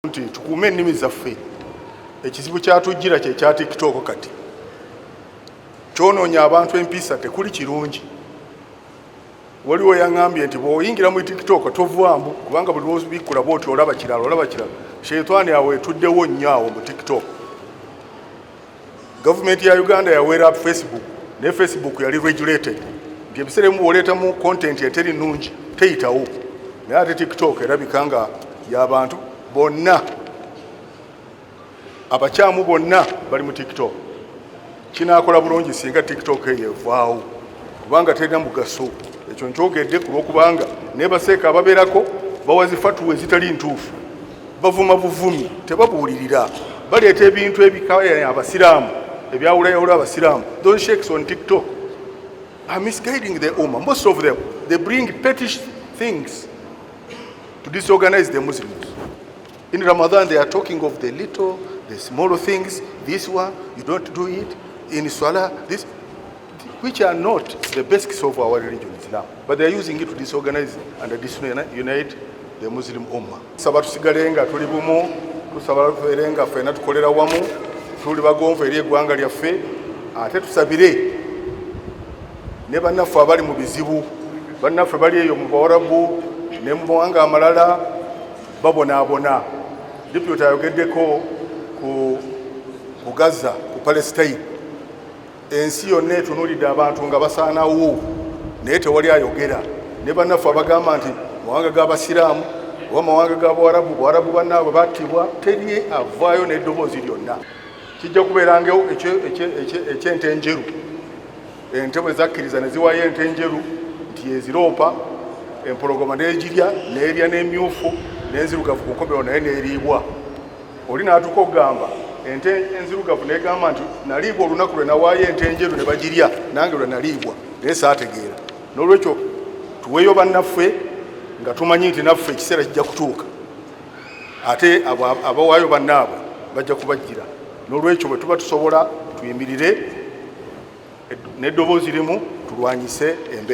nti tukuume ennimi zaffe ekizibu kyatujjira kye kya tiktok kati kyonoonya abantu empiisa tekuli kirungi waliwo yaŋambye nti bwoyingira mu tiktok tovwamu kubanga buli lwobikkula bwoti olaba kirala olaba kirala sheitani awo etuddewo nnyo awo mu tiktok Gavumenti ya Uganda yawera Facebook ne Facebook yali regulated nti ebiseera emu bwoleetamu content eteri nnungi teyitawo naye ate TikTok erabika nga yabantu bonna abakyamu bonna bali mu TikTok kinakola bulungi singa TikTok eyo evaawo kubanga terina mugaso ekyo nkyogedde kulwokubanga nebaseeka ababeerako bawazifa tuwa ezitali ntuufu bavuma buvumi tebabuulirira baleeta ebintu ebikaya eh, abasiraamu ebyawulayawula abasiraamu those shakes on tiktok are misguiding the umma most of them they bring petish things to disorganize the muslims in ramadan they are talking of the little the small things this one you don't do it in swala this which are not the basics of our religion Islam but they are using it to disorganize and disunite the Muslim Ummah saba tusigale nga tuli bumu tusaba tubeere nga ffena tukolera wamu tuli bagonvu eri eggwanga lyaffe ate tusabire ne bannaffe abali mu bizibu bannaffe bali eyo mu bawarabu ne mu mawanga amalala babonaabona dipyota ayogeddeko ku gaza ku palestine ensi yonna etunulidde abantu nga basaanawo naye tewali ayogera ne bannaffe abagamba nti mawanga g'abasiraamu oba mawanga ga buwarabu buwarabu bannaabwe battibwa teri avaayo n'eddoboozi lyonna kijja kubeerangawo ekyente enjeru ente bwe zakkiriza ne ziwaayo ente enjeru nti eziroopa empologoma n'egirya n'erya n'emyufu n'enzirugavu kukomero naye n'eriibwa oli n'atuuka okugamba ente enzirugavu negamba nti naliibwa olunaku lwe nawaayo ente enjeru ne bagirya nange lwe naliibwa naye saategeera n'olwekyo tuweeyo bannaffe nga tumanyi nti naffe ekiseera kijja kutuuka ate abawaayo bannaabwe bajja kubajjira n'olwekyo bwe tuba tusobola tuyimirire n'eddoboozi limu tulwanyise embeera